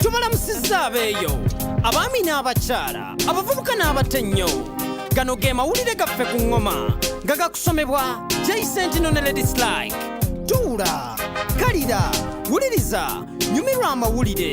tubalamusizza abeeyo abaami n'abakyala abavubuka n'abato ennyo gano ge mawulire gaffe ku ŋŋoma nga gakusomebwa jaisentinoneledislike tuula kalira wuliriza nyumirwa amawulire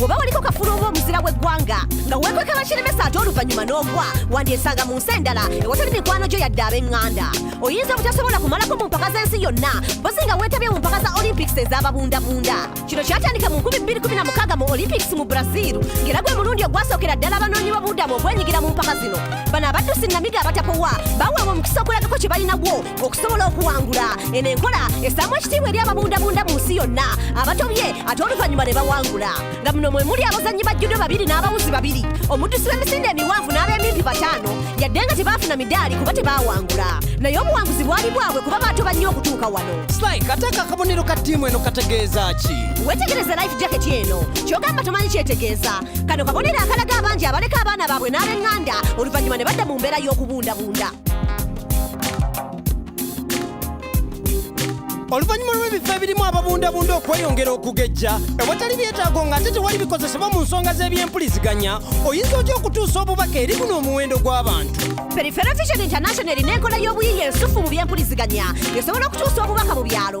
woba waliko kafulu oba omuzira w'eggwanga nga weekweka bakiremesa ate oluvannyuma n'ogwa wandyesanga mu nsi endala ewatali mikwano gyo yadde ab'eŋŋanda oyinza obutasobola kumalako mu mpaka z'ensi yonna bozi nga weetabye mu mpaka za olympics ez'ababundabunda kino kyatandika mu 2016 mu olympics mu brazil ng'era gwe mulundi ogwasookera ddala abanoonyi b'obubudamu okwenyigira mu mpaka zino bano abaddusi namiga abatapowa baweebwa omukisa okulagako kye balinagwo okusobola okuwangula eno enkola esaamu ekitiibwa eri ababundabunda mu nsi yonna abatobye ate oluvannyuma ne bawangula nga muno mwe muli abazannyi ba judo babiri n'abawuzi babiri omuddusi w'emisinde emiwanvu n'ab'emimpi bataano yadde nga tebaafuna midaali kuba tebaawangula naye obuwanguzi bwali bwabwe kuba baatoba nnyo okutuuka wano slike ate ako akabonero ka ttiimu eno kategeeza ki wetegereze life jacket eno kyogamba tomanyi kyetegeeza kano kabonero akalaga abangi abaleka abaana baabwe n'ab'eŋŋanda oluvannyuma ne badda mu mbeera y'okubundabunda oluvannyuma lw'ebifo ebirimu ababundabunda okweyongera okugejja ewatali byetaago ng'ate tewali bikozesebwa mu nsonga z'ebyempuliziganya oyinza otya okutuusa obubaka eri guno omuwendo gw'abantu perifera vision international erina enkola y'obuyiiya ensufu mu byempuliziganya esobola okutuusa obubaka mu byalo